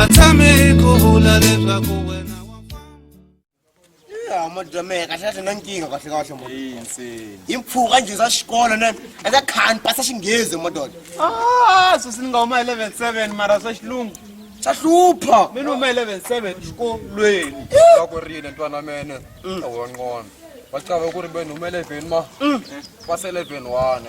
a tshami ku vula leswaku wena wa famba modyomeka xana xi na nkingha kahle kahle mo hi mpfuka njhe za xikolo ne eka khani pasa xinghezi mododa ah, susi ni nga huma eleven seven mara swa xilungu swa hlupha mi ni huma eleven seven xikolweni va ku rile ntwana wa mene mm. awa nqondo va chava ku ri ve ni huma eleven ma mm. pasa eleven one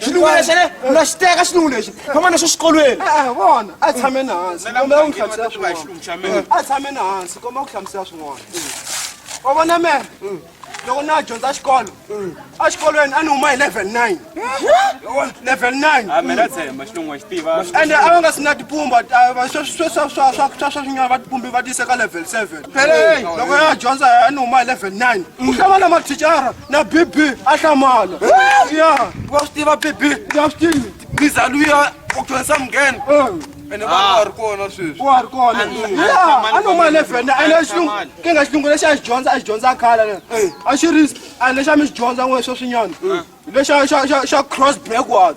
xinuwe lexi ne u na xi teka xinuwe lexi famba na xo xikolweni eh, eh, vona a tshameni hansi komba u n'wi hlamusela swin'wana a tshameni hansi komba u hlamusela swin'wana wa mm. vona mena mm. loko na dyondza xikolo exikolweni a ni huma hi level nine level nineande a va nga si na tipumba swa swinyana va tipumbi va tiyise ka level seven loko ya dyondza a ni huma hi level nine ku hlangana mathicara na bibi a hlamala ya wa swi tiva bibi ya swi tivi biza luya u dyondzisa mungheni ene va nga ri kona sweswi wa ri kona ya a no mali evhenda ene xilungu ki nga xilungu lexi a xi dyondza a xi dyondza khale ne a xi ri a lexi a mi xi dyondza n'we sweswinyana lexa xa xa xa cross backward